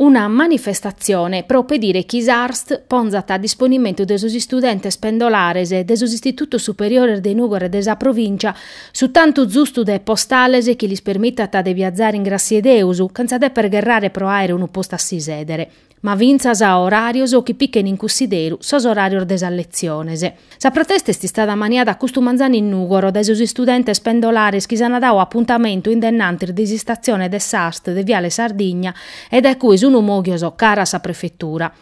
Una manifestatzione pro pedire chi s'Arst ponzat a disponimentu de sos istudentes pendolares de sos istitutos superiores de Nùgoro e de sa provìncia su tantu zustu de postales chi lis permitat de biazare in gràssia 'e Deus chentza deper gherrare pro àere unu postu a si sèdere, ma fintzas oràrios chi pichen in cussidèru sos oràrios de sas letziones. Sa protesta est istada maniata custu manzanu in Nùgoro dae sos istudentes pendolares chi s'ant dau apuntamentu in dennantis de s'istatzione de s'Arst de Viale Sardigna e dae cue sunt mòghios cara a sa prefetura.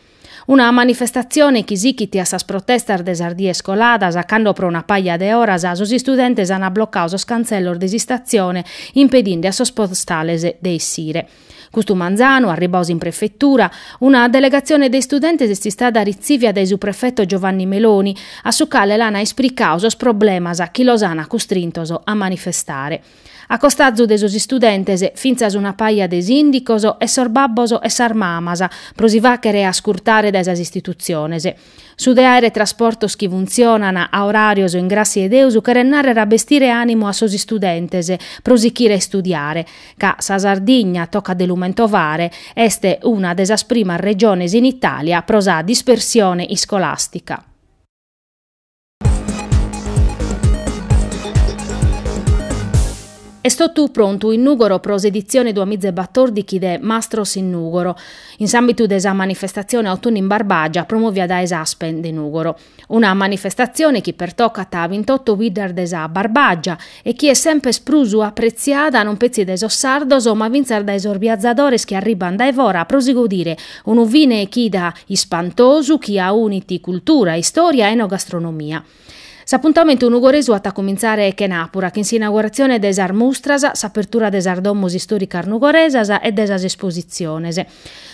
Una manifestatzione chi sichit a sas protestas de sas dies coladas cando pro una paja de oras sos istudentes ant blocadu sos cantzellos de s'istatzione impedinde a sos postales de essire. Custu manzanu, arribbaos in prefetura, una delegatzione de istudentes est istada ritzìvia dae su prefeto Giovanni Meloni, a su cale l'ana espricau sos problemas chi los ana custrintos a manifestare. A costazu de sos istudentes, fintzas una paja de sìndicos e sos babbos e sas mamas, pro si fàghere ascurtare dae sas istitutziones. Su de àere trasportos chi funtzionan a oràrios in gràssia 'e Deus cheret nàrrere a bestire ànimu a sos istudentes pro sichire a istudiare, ca sa Sardigna, tocat de lu mentovare, est una de sas primas regiones in Itàlia pro sa dispersione iscolàstica. Est totu prontu in Nùgoro pro s'editzione duamiza e batòrdichi de Mastros in Nùgoro, in s'àmbitu de sa manifestatzione Autunnu in Barbàgia promòvia dae s'Aspen de Nùgoro. Una manifestatzione chi pertocat a bintioto biddas de sa Barbàgia e chi est semper prus apretziata non petzi dae sos sardos ma fintzas dae sos biazadores chi arribban dae fora pro si godire unu fine 'e chida ispantosu chi aunit cultura, istoria e enogastronomia. S'apuntamentu nugoresu at a comintzare chenàpura chin s'inauguratzione de sas mustras, s'apertura de sas domos istoricas nugoresas e de sas espositziones.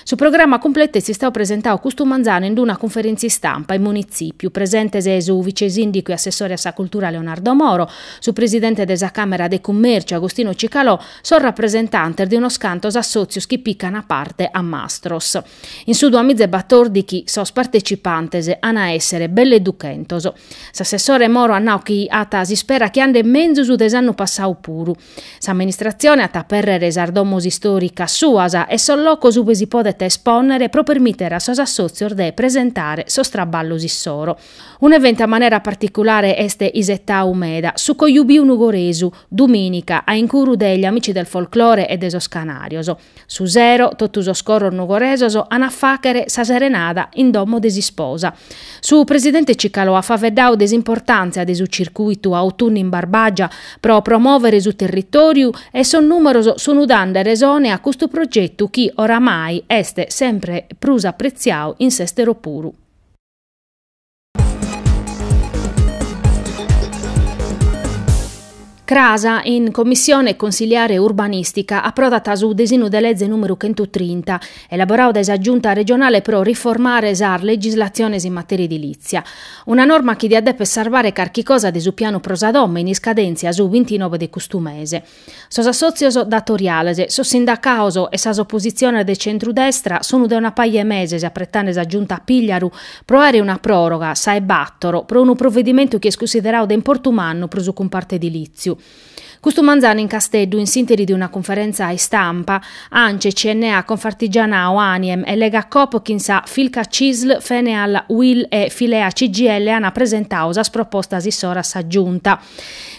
Su programma cumpletu est istau presentau custu manzanu in d'una cunferèntzia istampa in Munitzìpiu, presentes su vice-sìndicu e assessore a sa cultura Leonardo Moro, su presidente de sa Càmera de Cummèrciu Agostino Cicalò, sos rapresentantes de unos cantos assòtzios chi picant parte a Mastros. In su duamiza e batòrdichi sos partecipantes an a èssere belle duchentos. S'assessore Moro at nau chi at s'ispera chi andet menzus de s'annu passau puru. S'amministratzione at a apèrrere sas domos istòricas suas e sos locos ue si podet espònnere pro permìtere a sos assòtzios de presentare sos traballos issoro. Un'eventu a manera particulare est isetau meda, su Cojubiu Nugoresu, dumìnica, a incuru de Gli Amici del Folklore e de sos Canarjos. Su sero, totu sos coros nugoresos an a fàghere sa serenada in domo de s'isposa. Su presidente Cicalò at faveddau de s'importàntzia de su circuitu Autunnu in Barbàgia pro promòvere su territòriu e sos nùmeros sun dande resone a custu progetu chi oramai est sempre prus apretziau in s'èstero puru. Cras, in Commissione Consiliare Urbanistica, aprodat su desinu de leze numeru chentu trinta, elaborau dae sa Giunta Regionale pro riformare sas legislatziones in materia edilizia. Una norma chi diat deper sarvare carchi cosa de su pianu pro sa domo in iscadèntzia su bintinove de custu mese. Sos assòtzios datoriales, sos sindacaos e sas opositziones de centru-destra sun de una paja 'e meses apretande sa Giunta Pigliaru pro àere una pròroga, sa 'e bàtoro, pro unu provedimentu chi est cunsiderau de importu mannu pro su cumpartu edilìtziu. Custu manzanu in Casteddu in s'ìnteri de una cunferèntzia istampa, Ance, CNA, Confartigianao, Aniem e Legacoop chin sa Filca Cisl, Feneal UIL e Fillea-CGIL an presentau sas propostas issoro a sa Giunta.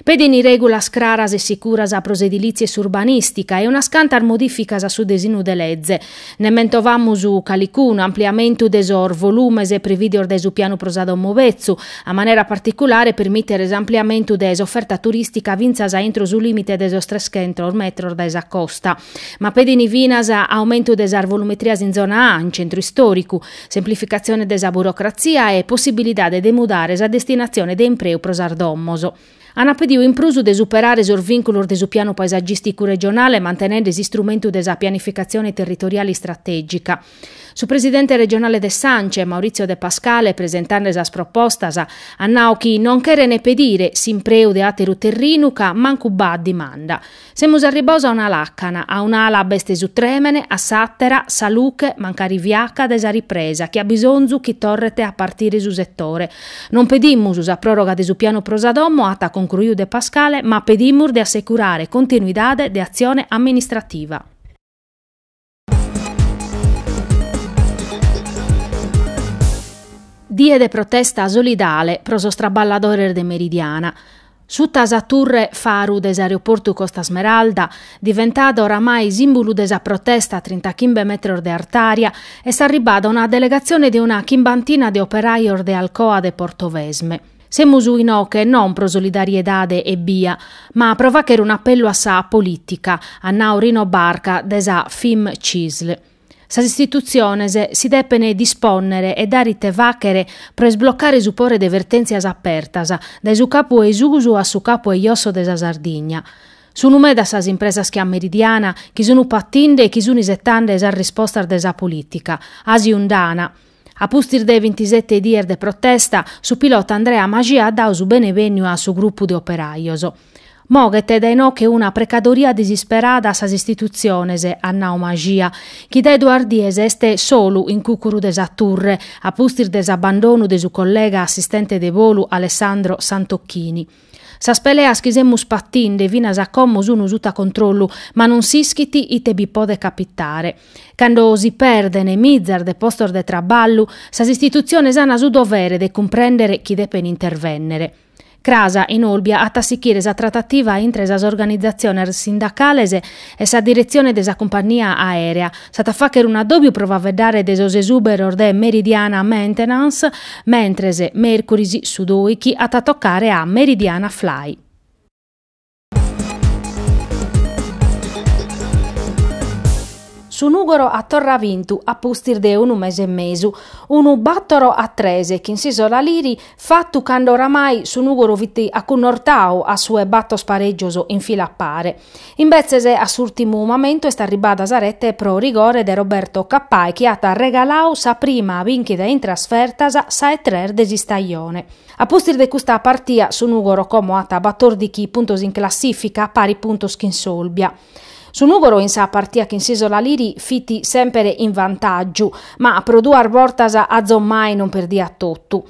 Pedint règulas craras e sicuras pro s'edilìtzia e s'urbanìstica e unas cantas modìficas a su desinu de leze. Nde mentovamus calicunu, ampliamentu de sos volùmenes prevìdios dae su pianu pro sa domo betzu, a manera particulare permìtere s'ampliamentu de s'oferta turìstica finas a intro su lìmite de sos trechentos metros dae sa costa. Ma pedint finas aumentu de sas volumetrias in zona A, in centru istòricu, Semplificatzione de sa burocratzia e possibilidade de mudare sa destinatzione de impreu pro sas domos. Ant pediu in prus de superare sos vìnculos de su pianu paesagìsticu regionale mantenende s'istrumentu de sa pianificatzione territoriale istratègica. Su presidente regionale de s'Ance, Maurizio De Pascale, presentande sas propostas, at nau chi non cherent pedire s'impreu de àteru terrinu ca mancu b'at dimanda. Semus arribbaos a una làcana, a un'ala b'est su trèmene, a s'àtera, sa luche, mancari fiaca, de sa ripresa chi at bisonzu chi torret a partire su setore. Non pedimus sa pròroga de su pianu pro sa domo, at concruiu De Pascale, ma pedimus de assecurare continuidade de atzione amministrativa. Die de protesta solidale pro sos traballadores de Meridiana. Suta sa turre faru de s'aeroportu Costa Smeralda, diventada oramai sìmbulu de sa protesta a trintachimbe metros de artària, est arribada una delegatzione de una chimbantina de operajos de Alcoa de Portovesme. Semus inoche non pro solidariedade ebbia, ma pro fagher un'appellu a sa polìtica, at nau Rino Barca de sa FIM-CISL. Sas istitutziones si depen dispònnere e dare ite fàghere pro isblocare su pore de vertèntzias apertas, dae su capu 'e susu a su capu 'e josso de sa Sardigna. Sunu medas sas impresas che a Meridiana chi sunu patinde e chi sun isetande sas rispostas de sa polìtica, àsiu nd'ana, A pustis de bintisete dies de protesta, su pilota Andrea Mascia at dadu su benevènniu a su grupu de operajos. Moghet dae inoche una precadoria disisperada a sas istitutziones, at nadu Mascia, chi dae duas dies est solu in cùcuru de sa turre, a pustis de s'abandonu de su collega assistente de volu Alessandro Santocchini. Sas peleas chi semus patinde finas a como sunu suta controllu, ma non s'ischit ite bi podet capitare. Cando si perdene mizas de postos de traballu, sas istitutziones an su dovere de cumprendere chi depen intervennere. Cras in Olbia at a sichire sa tratativa intre sas organizatziones sindacales e sa diretzione de sa cumpannia aèrea. S'at a fàghere un'adòbiu pro faveddare de sos esùberos de Meridiana Maintenance, mentres mèrcuris su dòichi at a tocare a Meridiana Fly. Su Nùgoro at torra vintu a pustis de unu mese e mesu, unu bàtoro a tres chin s'Isola Liri, fatu cando oramai su Nùgoro fit acunnortadu a su 'e bator pareggios in fila a pare. Imbetzes a s'ùrtimu mamentu est arribada sa rete pro rigore de Roberto Cappai chi at regaladu sa prima bìnchida in trasfertas, sa 'e tres de s'istajone. A pustis de custa partia su Nùgoro como at batòrdighi puntos in classìfica, pari puntos chin s'Olbia. Su Nùgoro in sa partia chin s'Isola Liri fit semper in vantàgiu, ma pro duas bortas azomai non perdiat totu.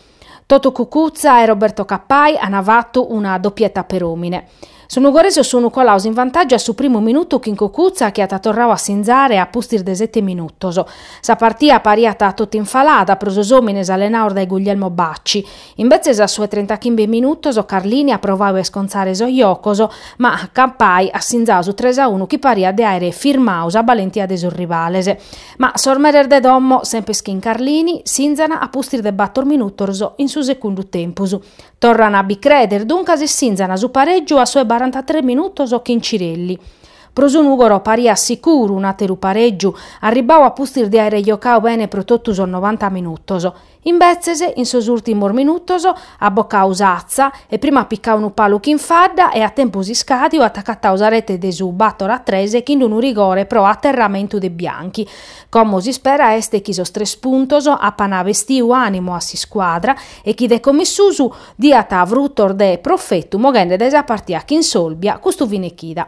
Toto Cucuzza e Roberto Cappai ana fatu una dopieta per omine. Sos Nugoresos sunu colados in vantàgiu a su primu minutu chin Cucuzza chi at torradu a sinzare a pustis de sete minutos. Sa partia pariat totu infalada pro sos omines allenados dae Guglielmo Bacci. Imbetzes a su 'e trentachimbe minutos Carlini at provadu a iscontzare sos jocos ma Cappai at sinzadu su tres a unu chi pariat de aere firmadu sa balentia de sos rivales. Ma sos meres de domo, semper chin Carlini, sinzan a pustis de bator minutos in su segundu tempus. Torran a bi creder duncas e sinzan su pareggiu a su 'e barantatres minutos chin Cirelli. Pro su Nugoro pariat sicuru un'ateru pareggiu, arribbau a pustis de aere jocadu bene pro totu sos novanta minutos. Imbetzes, in sos ùrtimos minutos, at bocau s'atza e prima at picau unu palu chin fadda e a tempus iscàdiu at agatau sa rete de su bator a tres chin unu rigore pro aterramentu de Bianchi. Como s'ispera est chi sos tres puntos apan bestiu ànimu a s'iscuadra e chi de commissusu diat frutos de profetu moghende dae sa partia chin s'Olbia custu fine chida.